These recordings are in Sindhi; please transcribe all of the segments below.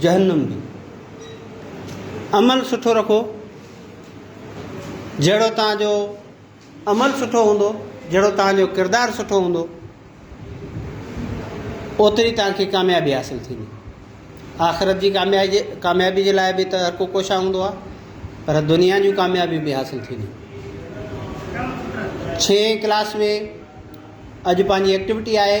جهنم به. عمل سٺو رکو، جهڙو توهان جو عمل سٺو هوندو، جهڙو توهان جو ڪردار سٺو هوندو، اوتري توهان کي ڪاميابي حاصل ٿيندي. آخرت جي ڪاميابي جي لاء به ته هر ڪو ڪوشان هوندو آهي، پر دنيا جون ڪاميابيون به حاصل ٿينديون. ڇهين ڪلاس ۾ اڄ پنهنجي ايڪٽيوٽي آهي.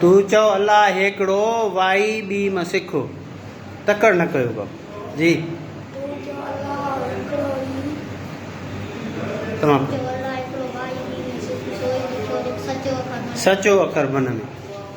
تون چئو الله هيڪڙو وائي ٻي م سکو تڪڙ نه ڪيو ڪم جي تمام سچو اکر من م.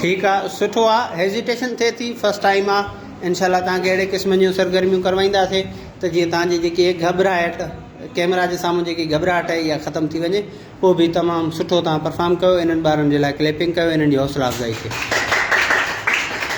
ٺيڪ آ سٺو آ هيزيٽيشن ٿئي ٿي فرسٽ ٽائيم آ انشاء الله تانکي اهڙي قسم جون سرگرميون ڪروائينداسي ته جيئن تانجي جيڪي هي گهٻراهٽ ڪيمرا جي سامهون جيڪي گهٻراهٽ آهي اها ختم ٿي وڃي پوء به تمام سٺو تان پرفارم ڪيو انهن ٻارن جي لاء ڪليپنگ ڪيو انهن جي حوصلا افزائي ٿي